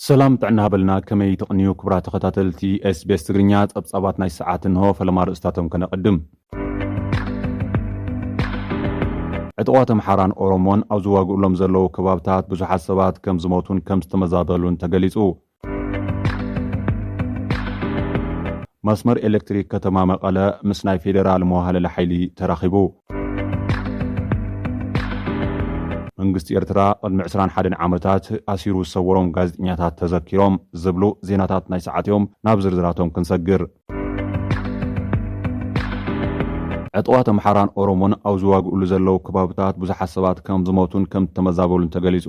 ሰላም ጥዕና ሃበልና ከመይ ትቕንዩ ክቡራት ተኸታተልቲ ኤስቤስ ትግርኛ ጸብጻባት ናይ ሰዓት እንሆ ፈለማ ርእስታቶም ከነቐድም ዕጥቋት ኣምሓራን ኦሮሞን ኣብ ዝዋግእሎም ዘለዉ ከባብታት ብዙሓት ሰባት ከም ዝሞቱን ከም ዝተመዛበሉን ተገሊጹ። መስመር ኤሌክትሪክ ከተማ መቐለ ምስ ናይ ፌዴራል መዋህለሊ ሓይሊ ተራኺቡ። መንግስቲ ኤርትራ ቅድሚ ዕስራን ሓደን ዓመታት ኣሲሩ ዝሰወሮም ጋዜጠኛታት ተዘኪሮም ዝብሉ ዜናታት ናይ ሰዓት'ዮም፣ ናብ ዝርዝራቶም ክንሰግር። ዕጡቓት ኣምሓራን ኦሮሞን ኣብ ዝዋግእሉ ዘለዉ ከባብታት ብዙሓት ሰባት ከምዝሞቱን ከምዝተመዛበሉን ተገሊጹ።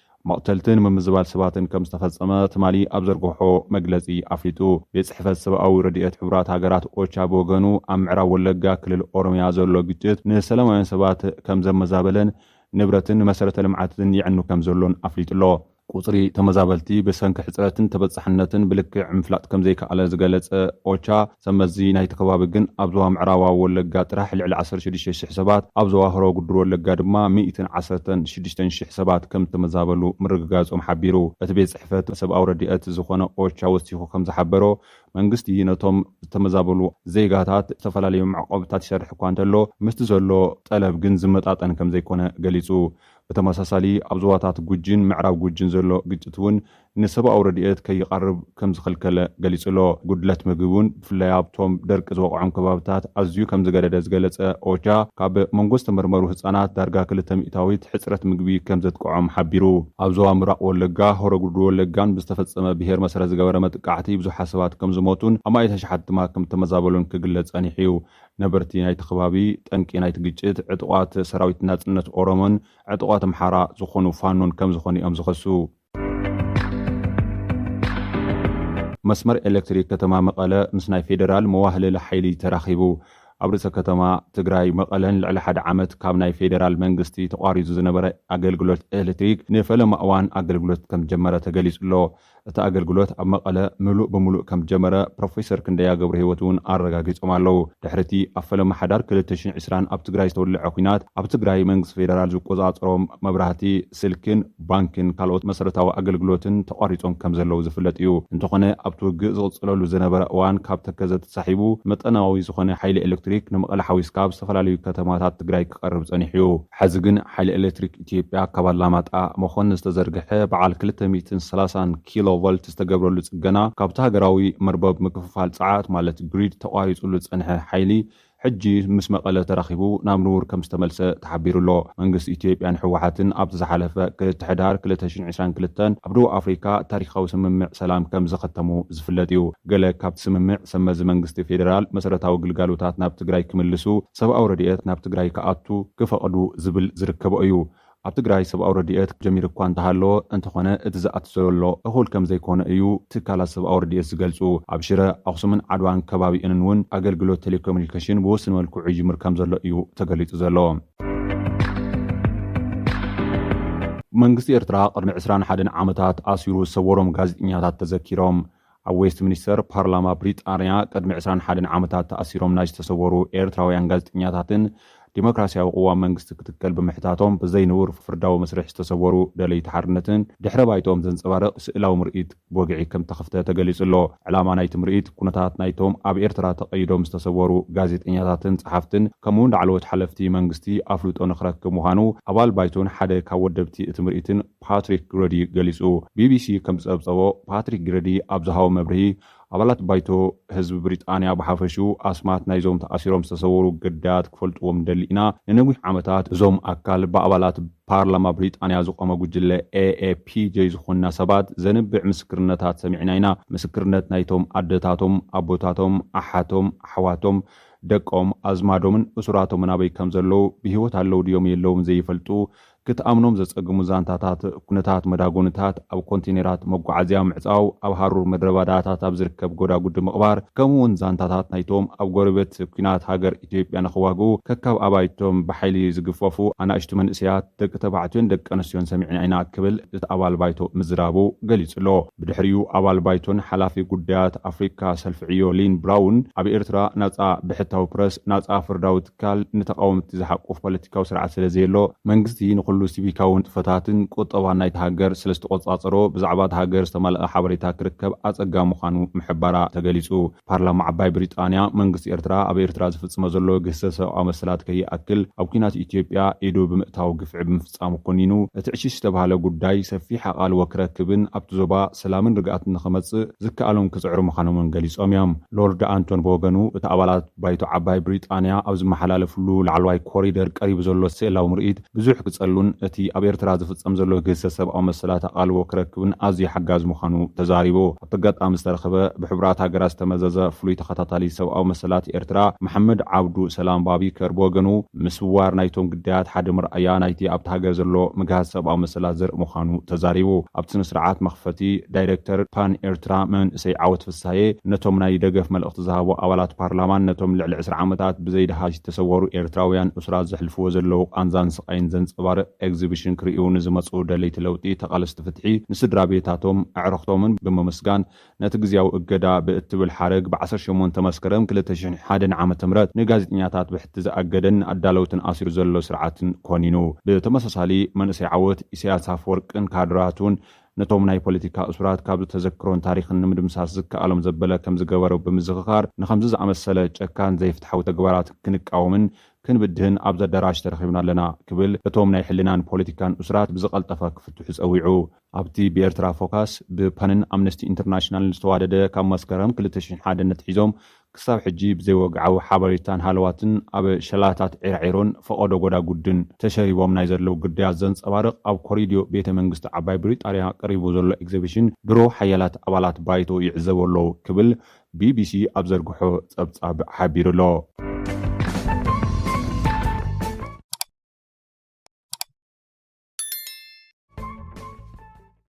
መቕተልትን ምምዝባል ሰባትን ከም ዝተፈጸመ ትማሊ ኣብ ዘርገሖ መግለጺ ኣፍሊጡ። ቤት ጽሕፈት ሰብኣዊ ረድኤት ሕቡራት ሃገራት ኦቻ ብወገኑ ኣብ ምዕራብ ወለጋ ክልል ኦሮሚያ ዘሎ ግጭት ንሰላማውያን ሰባት ከም ዘመዛበለን ንብረትን መሰረተ ልምዓትን የዕኑ ከም ዘሎን ኣፍሊጡ'ሎ። ቁጽሪ ተመዛበልቲ ብሰንኪ ሕጽረትን ተበጻሕነትን ብልክዕ ምፍላጥ ከም ዘይከኣለ ዝገለጸ ኦቻ፣ ሰብመዚ ናይቲ ከባቢ ግን ኣብ ዞባ ምዕራባዊ ወለጋ ጥራሕ ልዕሊ ዓሰርተ ሽዱሽተ ሽሕ ሰባት፣ ኣብ ዞባ ሆሮ ጉዱሩ ወለጋ ድማ ሚእትን ዓሰርተን ሽዱሽተን ሽሕ ሰባት ከምዝተመዛበሉ ምርግጋጾም ሓቢሩ። እቲ ቤት ጽሕፈት ሰብኣዊ ረዲኤት ዝኾነ ኦቻ ወሲኹ ከምዝሓበሮ፣ መንግስቲ ነቶም ዝተመዛበሉ ዜጋታት ዝተፈላለዩ መዕቆብታት ይሰርሕ እኳ እንተሎ፣ ምስቲ ዘሎ ጠለብ ግን ዝመጣጠን ከምዘይኮነ ገሊጹ። ብተመሳሳሊ ኣብ ዞባታት ጉጂን ምዕራብ ጉጂን ዘሎ ግጭት'ውን ንሰብኣዊ ረድኤት ከይቐርብ ከም ዝኸልከለ ገሊጹ'ሎ። ጉድለት ምግቢ'ውን ብፍላይ ኣብቶም ደርቂ ዝወቕዖም ከባቢታት ኣዝዩ ከም ዝገደደ ዝገለጸ ኦቻ፣ ካብ መንጎ ዝተመርመሩ ህጻናት ዳርጋ ክልተ ሚእታዊት ሕጽረት ምግቢ ከም ዘጥቅዖም ሓቢሩ። ኣብ ዞባ ምብራቕ ወለጋ፣ ሆሮ ጉድሩ ወለጋን ብዝተፈጸመ ብሄር መሰረት ዝገበረ መጥቃዕቲ ብዙሓት ሰባት ከም ዝሞቱን ኣማኢት ኣሽሓት ድማ ከም እተመዛበሉን ክግለጽ ጸኒሑ'ዩ። ነበርቲ ናይቲ ከባቢ፣ ጠንቂ ናይቲ ግጭት ዕጡቓት ሰራዊት ናጽነት ኦሮሞን ዕጡቓት ኣምሓራ ዝዀኑ ፋኖን ከም ዝዀኑ'ዮም ዝኸሱ። መስመር ኤሌክትሪክ ከተማ መቐለ ምስ ናይ ፌዴራል መዋህለሊ ሓይሊ ተራኺቡ። ኣብ ርእሰ ከተማ ትግራይ መቐለ ንልዕሊ ሓደ ዓመት ካብ ናይ ፌዴራል መንግስቲ ተቋሪፁ ዝነበረ ኣገልግሎት ኤሌክትሪክ ንፈለማ እዋን ኣገልግሎት ከምዝጀመረ ተገሊፁ'ሎ። እቲ ኣገልግሎት ኣብ መቐለ ምሉእ ብምሉእ ከምዝጀመረ ፕሮፌሰር ክንደያ ገብረሂወት እውን ኣረጋጊፆም ኣለው። ድሕሪ'ቲ ኣብ ፈለማ ሓዳር ክልተ ሽሕን ዕስራን ኣብ ትግራይ ዝተወለዐ ኲናት ኣብ ትግራይ መንግስቲ ፌዴራል ዝቆፃፀሮም መብራህቲ ስልክን ባንክን ካልኦት መሰረታዊ ኣገልግሎትን ተቋሪጾም ከምዘለዉ ዝፍለጥ እዩ። እንተኾነ ኣብቲ ውግእ ዝቕጽለሉ ዝነበረ እዋን ካብ ተከዘ ተሳሒቡ መጠናዊ ዝኾነ ሓይሊ ኤሌክትሪክ ንመቐለ ሓዊስካ ኣብ ዝተፈላለዩ ከተማታት ትግራይ ክቐርብ ጸኒሑ እዩ። ሐዚ ግን ሓይሊ ኤሌክትሪክ ኢትዮጵያ ካብ ኣላማጣ፣ መኾኒ ዝተዘርገሐ በዓል ክልተ ሚእትን ሰላሳን ኪሎ ቮልት ዝተገብረሉ ጽገና ካብቲ ሃገራዊ መርበብ ምክፍፋል ጸዓት ማለት ግሪድ ተቋሪጹሉ ዝጸንሐ ሓይሊ ሕጂ ምስ መቐለ ተራኺቡ ናብ ንቡር ከምዝተመልሰ ተሓቢሩ'ሎ። መንግስቲ ኢትዮጵያን ህወሓትን ኣብቲ ዝሓለፈ ክልተ ሕዳር ክልተ ሽሕን ዕስራን ክልተን ኣብ ደቡብ ኣፍሪካ ታሪኻዊ ስምምዕ ሰላም ከምዘኸተሙ ዝፍለጥ'ዩ። ገለ ካብቲ ስምምዕ ሰብመዚ መንግስቲ ፌደራል መሰረታዊ ግልጋሎታት ናብ ትግራይ ክምልሱ፣ ሰብኣዊ ረድኤት ናብ ትግራይ ክኣቱ ክፈቕዱ ዝብል ዝርከቦ'ዩ። ኣብ ትግራይ ሰብኣዊ ረድኤት ጀሚሩ እኳ እንተሃለወ፣ እንተኾነ እቲ ዝኣቱ ዘሎ እኹል ከምዘይኮነ እዩ ትካላት ሰብኣዊ ረድኤት ዝገልፁ። ኣብ ሽረ፣ ኣኽሱምን ዓድዋን ከባቢኡንን እውን ኣገልግሎት ቴሌኮሚኒኬሽን ብውሱን መልክዑ ይጅምር ከምዘሎ እዩ ተገሊፁ ዘሎ። መንግስቲ ኤርትራ ቅድሚ ዕስራን ሓደን ዓመታት ኣሲሩ ዝሰወሮም ጋዜጠኛታት ተዘኪሮም። ኣብ ዌስትሚኒስተር ፓርላማ ብሪጣንያ ቅድሚ ዕስራን ሓደን ዓመታት ተኣሲሮም ናይ ዝተሰወሩ ኤርትራውያን ጋዜጠኛታትን ዲሞክራስያዊ ቅዋም መንግስቲ ክትከል ብምሕታቶም ብዘይንቡር ፍርዳዊ መስርሕ ዝተሰወሩ ደለይቲ ሓርነትን ድሕረ ባይትኦም ዘንጸባርቕ ስእላዊ ምርኢት ብወግዒ ከምተኸፍተ ተገሊጹ ኣሎ። ዕላማ ናይቲ ምርኢት ኩነታት ናይቶም ኣብ ኤርትራ ተቐይዶም ዝተሰወሩ ጋዜጠኛታትን ጸሓፍትን ከምኡ'ውን ላዕለዎት ሓለፍቲ መንግስቲ ኣፍልጦ ንኽረክብ ምዃኑ ኣባል ባይቶን ሓደ ካብ ወደብቲ እቲ ምርኢትን ፓትሪክ ግረዲ ገሊጹ። ቢቢሲ ከም ዝጸብጸቦ፣ ፓትሪክ ግረዲ ኣብ ዝሃቦ መብርሂ፣ ኣባላት ባይቶ፣ ህዝቢ ብሪጣንያ ብሓፈሽኡ፣ ኣስማት ናይዞም ተኣሲሮም ዝተሰወሩ ግዳያት ክፈልጥዎም ንደሊ ኢና፣ ንነዊሕ ዓመታት እዞም ኣካል ብኣባላት ፓርላማ ብሪጣንያ ዝቖመ ጉጅለ AAPJ ዝኾንና ሰባት ዘንብዕ ምስክርነታት ሰሚዕና ኢና፣ ምስክርነት ናይቶም ኣደታቶም፣ ኣቦታቶም፣ ኣሓቶም፣ ኣሕዋቶም፣ ደቆም፣ ኣዝማዶምን እሱራቶምን ኣበይ ከም ዘለዉ፣ ብህይወት ኣለዉ ድዮም የለዉን ዘይፈልጡ፣ ክትኣምኖም ዘጸግሙ ዛንታታት፣ ኩነታት መዳጎኒታት ኣብ ኮንተይነራት መጓዓዝያ ምዕጻው፣ ኣብ ሃሩር ምድረባዳታት ኣብ ዝርከብ ጎዳጉዲ ምቕባር፣ ከምኡ'ውን ዛንታታት ናይቶም ኣብ ጎረቤት ኲናት ሃገር ኢትዮጵያ ንኽዋግኡ ከካብ ኣባይቶም ብሓይሊ ዝግፈፉ ኣናእሽቱ መንእሰያት ደቂ ተባዕትዮን ደቂ ኣንስትዮን ሰሚዕና ኢና ክብል እቲ ኣባል ባይቶ ምዝራቡ ገሊጹ'ሎ። ብድሕሪኡ ኣባል ባይቶን ሓላፊ ጉዳያት ኣፍሪቃ ሰልፊ ዕዮ ሊን ብራውን ኣብ ኤርትራ ናጻ ብሕታዊ ፕረስ፣ ናጻ ፍርዳዊ ትካል ንተቓወምቲ ዝሓቁፍ ፖለቲካዊ ስርዓት ስለ ዘየሎ፣ መንግስቲ ንኹሉ ሲቪካዊ ንጥፈታትን ቁጠባን ናይታ ሃገር ስለ ዝተቖጻጸሮ፣ ብዛዕባ እታ ሃገር ዝተማልኣ ሓበሬታ ክርከብ ኣጸጋሚ ምዃኑ ምሕባራ ተገሊጹ። ፓርላማ ዓባይ ብሪጣንያ፣ መንግስቲ ኤርትራ ኣብ ኤርትራ ዝፍጽሞ ዘሎ ግህሰት ሰብኣዊ መሰላት ከይኣክል፣ ኣብ ኲናት ኢትዮጵያ ኢዱ ብምእታው ግፍዒ ብምፍጻሙ ኮኒኑ፣ እቲ ዕሽሽ ዝተባህለ ጉዳይ ሰፊሕ ኣቓልቦ ክረክብን ኣብቲ ዞባ ሰላምን ርግኣትን ንኽመጽእ ዝከኣሎም ክጽዕሩ ምዃኖም'ውን ገሊጾም'ዮም። ሎርድ ኣንቶን ብወገኑ፣ እቲ ኣባላት። ባይቶ ዓባይ ብሪጣንያ ኣብ ዝመሓላለፍሉ ላዕለዋይ ኮሪደር ቀሪቡ ዘሎ ስእላዊ ምርኢት ብዙሕ ክጸሉን እቲ ኣብ ኤርትራ ዝፍጸም ዘሎ ግህሰት ሰብኣዊ መሰላት ኣቓልቦ ክረክብን ኣዝዩ ሓጋዚ ምዃኑ ተዛሪቡ። ኣብቲ ኣጋጣሚ ዝተረኽበ ብሕቡራት ሃገራት ዝተመዘዘ ፍሉይ ተኸታታሊ ሰብኣዊ መሰላት ኤርትራ መሓመድ ዓብዱ ሰላም ባቢከር ብወገኑ ምስዋር ናይቶም ግዳያት ሓደ መርኣያ ናይቲ ኣብታ ሃገር ዘሎ ምግሃስ ሰብኣዊ መሰላት ዘርኢ ምዃኑ ተዛሪቡ። ኣብቲ ስነስርዓት መኽፈቲ ዳይረክተር ፓን ኤርትራ መንእሰይ ዓወት ሳየ ነቶም ናይ ደገፍ መልእኽቲ ዝሃቡ ኣባላት ፓርላማን ነቶም ልዕሊ ዕስራ ዓመታት ብዘይደሃሽ ዝተሰወሩ ኤርትራውያን እሱራት ዘሕልፍዎ ዘለዉ ቃንዛን ስቓይን ዘንጸባርቕ ኤግዚብሽን ክርእዩ ንዝመጽኡ ደለይቲ ለውጢ ተቓለስቲ ፍትሒ ንስድራቤታቶም ኣዕርኽቶምን ብምምስጋን ነቲ ግዝያዊ እገዳ ብእትብል ሓረግ ብ ዓሰርተ ሸሞንተ መስከረም ክልተ ሽሕን ሓደን ዓመተ ምህረት ንጋዜጠኛታት ብሕቲ ዝኣገደን ንኣዳለውትን ኣሲሩ ዘሎ ስርዓትን ኮኒኑ ብተመሳሳሊ መንእሰይ ዓወት ኢሳያስ ኣፈወርቅን ካድራቱን ነቶም ናይ ፖለቲካ እሱራት ካብዚ ተዘክሮን ታሪኽን ንምድምሳስ ዝከኣሎም ዘበለ ከምዝገበሩ ብምዝኽኻር፣ ንኸምዚ ዝኣመሰለ ጨካን ዘይፍትሓዊ ተግባራት ክንቃወምን ክንብድህን ኣብዚ ኣዳራሽ ተረኺብና ኣለና ክብል እቶም ናይ ሕልናን ፖለቲካን እሱራት ብዝቐልጠፈ ክፍትሑ ጸዊዑ። ኣብቲ ብኤርትራ ፎካስ፣ ብፐንን ኣምነስቲ ኢንተርናሽናልን ዝተዋደደ ካብ መስከረም ክልተ ሽሕን ሓደን ኣትሒዞም ክሳብ ሕጂ ብዘይወግዓዊ ሓበሬታን ሃለዋትን ኣብ ሸላታት ዒራዒሮን ፈቐዶ ጎዳጉድን ተሸሪቦም ናይ ዘለዉ ግዳያት ዘንጸባርቕ ኣብ ኮሪድዮ ቤተ መንግስቲ ዓባይ ብሪጣርያ ቀሪቡ ዘሎ ኤግዘቢሽን ድሮ ሓያላት ኣባላት ባይቶ ይዕዘብዎ ኣለዉ ክብል ቢቢሲ ኣብ ዘርግሖ ጸብጻብ ሓቢሩ ኣሎ።